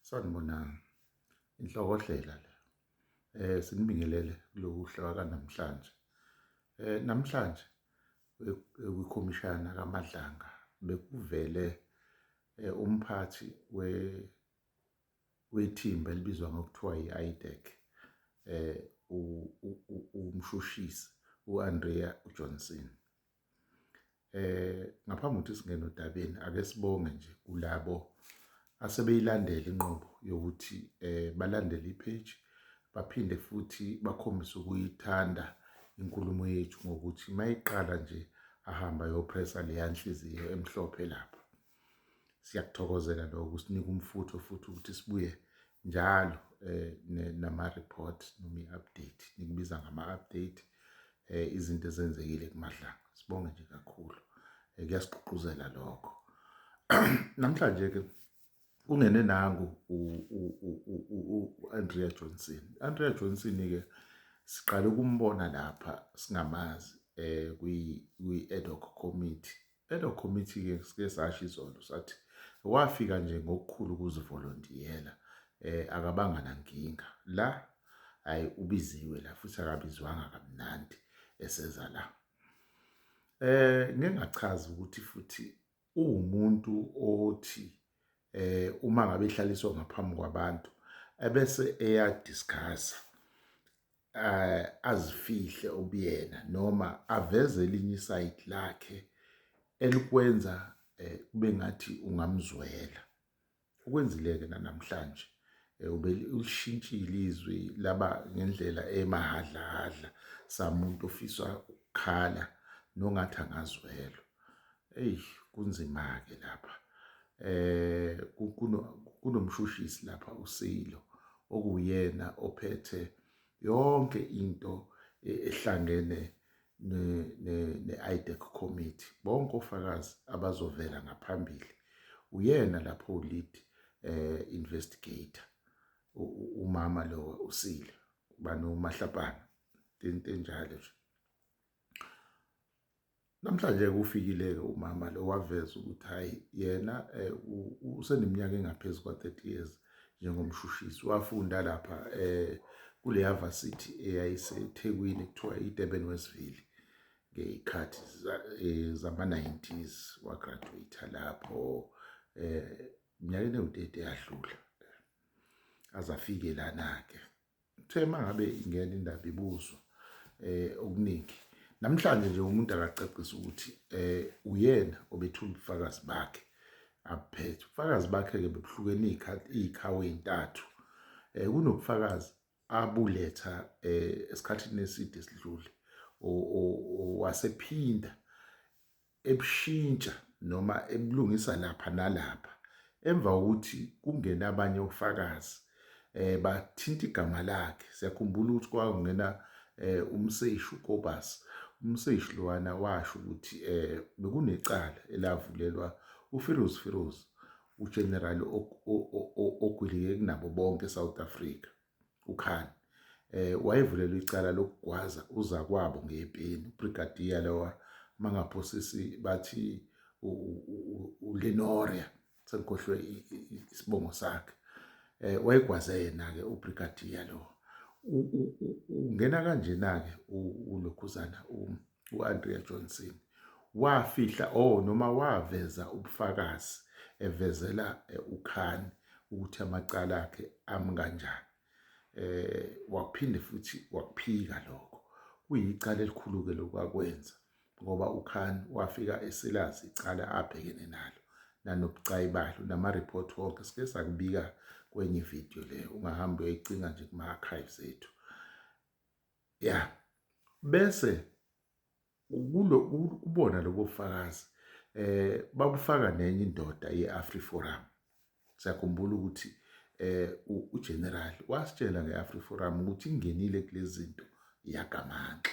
Sanibonani. Inhlokohlela le. Eh sinibingelele lokuhlwa kanamhlanje. Eh namhlanje kwikhomishana kaMadlanga bekuvele eh, umphathi we wethimba elibizwa ngokuthiwa yi-IDEC eh umshushisi uAndrea Johnson Eh ngaphambi ukuthi singene odabeni ake sibonge nje kulabo asebeyilandela inqobo yokuthi eh balandele ipage baphinde futhi bakhombise ukuyithanda inkulumo yethu ngokuthi mayiqala nje ahamba yopressa leya nhliziyo emhlophe lapha. siyakuthokozela lokho kusinika umfutho futhi ukuthi sibuye njalo eh, nama-report noma i-update nikubiza ngama-update eh, izinto ezenzekile kumadlanga sibonge nje kakhulu eh, kuyasigqugquzela lokho namhlanje-ke kungene nangu u-andrea johnson andrea johnson-ke siqale ukumbona lapha singamazi um kwi-ad hoc committee Elo committee-ke sike sasho izolo sathi wafika nje ngokukhulu ukuzivolontiyela eh akabanga nankinga la hayi ubiziwe la futhi akabizwanga kamnandi eseza la eh ngingachaza ukuthi futhi uwumuntu othi eh uma ngabe ihlaliswa ngaphambi kwabantu ebese eya discuss eh, azifihle ubuyena noma aveze elinye isayidi lakhe elikwenza eh, kube ngathi ungamzwela ukwenzile-ke nanamhlanje eh, ubelishintshile izwi laba ngendlela emahadlahadla samuntu ofisa ukukhala nongathi angazwelwa Eyi kunzima-ke lapha eh kunomshushisi lapha uSilo okuwuyena ophethe yonke into e-, ehlangene ne-IDEC committee bonke ofakazi abazovela ngaphambili uyena lapho lead eh investigator umama lo usile banomahlapana into enjalo nje Namhlanje-ke ufikile-ke umama lo waveza ukuthi hhayi yena um useneminyaka engaphezu kwa-thirty years njengomshushisi wafunda lapha um kuleya vasithi eyayisethekwini kuthiwa idurban westville ngey'khathi eh, zama-nineties wagraduate lapho um minyakeni ewutete yadlula azafike lana-ke Kuthe uma ngabe ingena indaba ibuzwa um okuningi namhlanje nje umuntu akacacisa ukuthi um uyena obethula ubufakazi bakhe abuphethe ubufakazi bakhe-ke bebuhlukene iy'khawu ey'ntathu um kunobufakazi abuletha um esikhathini eside esidlule wasephinda ebushintsha noma ebulungisa lapha nalapha emva kokuthi kungena abanye ofakazi eh bathinta igama lakhe siyakhumbula ukuthi kwakungena eh umseshi uKobus umseshi lowana washo ukuthi eh bekunecala elavulelwa uFiroz Firoz uGeneral ogwilike kunabo bonke eSouth Africa uKhan eh wayevulelwe icala lokugwaza uzakwabo ngepeni ubrigadier lowa mangaphosisi bathi uLenoria sengikhohlwe isibongo sakhe eh wayegwaze yena ke ubrigadier lo ungena kanjena ke ulokhuzana u-Andrea Johnson wafihla o oh, noma waveza ubufakazi evezela eh, uKhan ukuthi amacala akhe ami kanjani eh waphinde futhi wakuphika lokho kuyicala elikhulu ke lokwakwenza ngoba uKhan wafika eselazi icala abhekene nalo nanobucayi balo nama report wonke sike sakubika kwenye video le ungahamba uyoyicinga nje kuma archives ethu ya bese kulo kubona lobo fakazi eh bakufaka nenye indoda yeAfriforum siyakhumbula ukuthi eh uGeneral wasitshela ngeAfriforum ukuthi ingenile kulezinto yagamanxa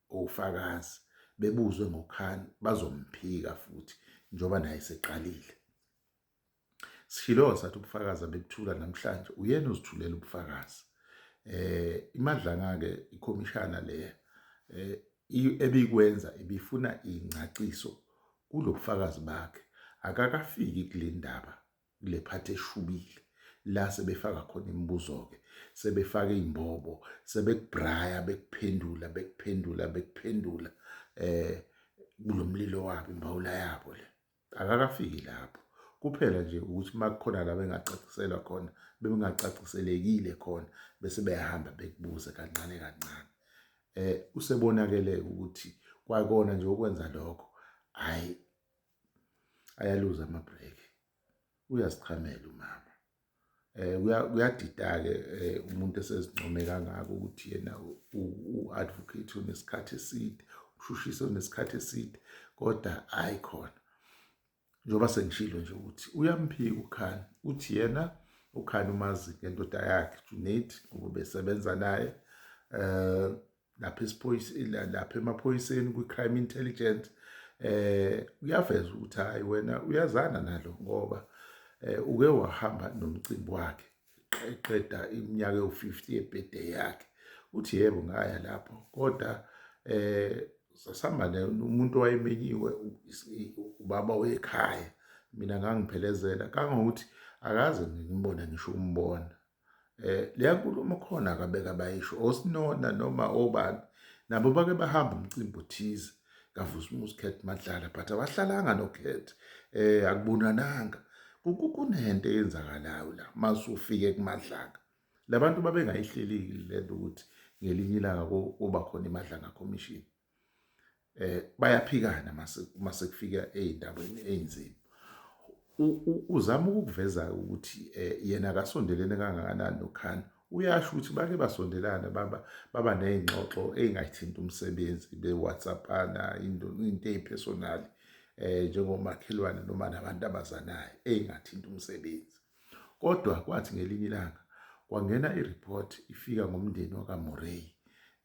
OFakazi bebuzwe ngoKhan bazomphika futhi njengoba naye eseqalile. Sishilo sathi ubufakazi abebuthula namhlanje uyena ozithulela ubufakazi. Eh imadlanga ke ikhomishana le eh ebikwenza ibifuna ingcaciso kulobufakazi bakhe akakafiki kulendaba kule phathi eshubile la sebefaka khona imibuzo-ke sebefaka iy'mbobo sebekubraya bekuphendula bekuphendula bekuphendula eh kulo mlilo wabo imbawula yabo le akakafiki lapho kuphela nje ukuthi uma kukhona la bengacaciselwa khona bebengacaciselekile khona bese beyahamba bekubuze kancane kancane eh usebonakele ukuthi kwakona nje okwenza lokho hayi ayaluza ama break uyazichamela umama eh kuyadidake eh, umuntu esezincome kangaka ukuthi yena u advocate unesikhathi eside ushushise unesikhathi eside kodwa hayi khona njengoba sengishilo nje ukuthi uyamphika ukhani uthi yena ukhani umazi ngendoda yakhe Junaid ngoba besebenza naye eh lapha esiphoyiseni lapha emaphoyiseni kwi-crime intelligence eh uyaveza ukuthi hayi wena uyazana nalo ngoba eh uke wahamba nomcimbi wakhe eqeda iminyaka ewu-50 ebhede yakhe uthi yebo ngaya lapho kodwa eh sasamane umuntu owayemenyiwe ubaba wekhaya mina ngangiphelezela kangokuthi akaze ngimbone ngisho umbona eh leya nkulumo khona akabeka bayisho osinona noma obani nabo bake bahamba umcimbi othize kaVusumuzi Khethi Madlala but abahlalanga noKhethi eh akubonananga kunento eyenzakalayo la masufike kuMadlanga labantu babengayihlelile lento ukuthi ngelinye ilanga kuba khona iMadlanga Commission eh bayaphikana mase uma sekufika ezindaweni ezinzima uzama ukuveza ukuthi eh, yena akasondelene kangakanani noKhan uyasho ukuthi bake basondelana baba baba nezingxoxo ezingayithinta umsebenzi be-whatsappana into into ezipersonal eh njengomakhelwane noma nabantu abazanayo ezingathinta umsebenzi Kodwa kwathi ngelinye ilanga kwangena ireport ifika ngomndeni wakaMurray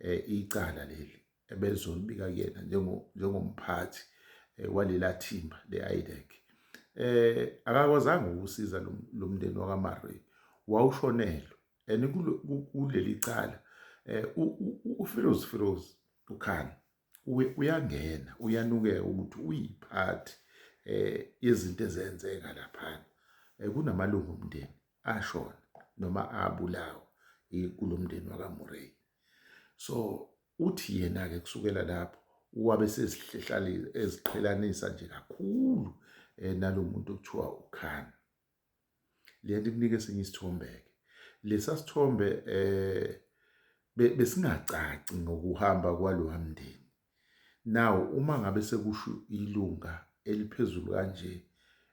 eh icala leli ebelizolibika kuyena njengo njengomphathi eh, walela thimba leIDEC eh akakwazanga ukusiza lomndeni wakaMurray wawushonelwe and kuleli cala eh uFiroz Firoz ukhani uyangena uyanukeka ukuthi uyiphathi eh yezinto ezenzeka laphana eh, kunamalungu omndeni ashona noma abulawa kulomndeni wakaMurray so uthi yena ke kusukela lapho wabe sezihlehlalile eziqhelanisa nje kakhulu eh, nalomuntu okuthiwa uKhan lento ikunika esinye isithombeke lesa sithombe eh besingacaci ngokuhamba kwalowa mndeni nawo uma ngabe sekusho ilunga eliphezulu kanje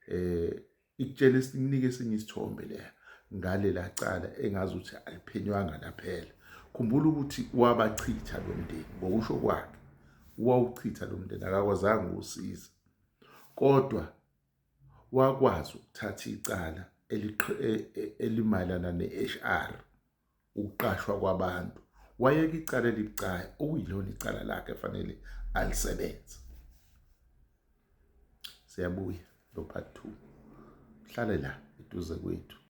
eh ikutshela isikunike esinye isithombe leya ngalela cala engazi ukuthi aliphenywanga laphela khumbula ukuthi wabachitha lo mndeni ngokusho kwakhe wawuchitha lo mndeni akakwazanga ukusiza kodwa wakwazi ukuthatha icala elimayelana ne-HR ukuqashwa kwabantu wayeka icala elibucayi okuyilona icala lakhe fanele alisebenze siyabuya lo part 2 hlale la eduze kwethu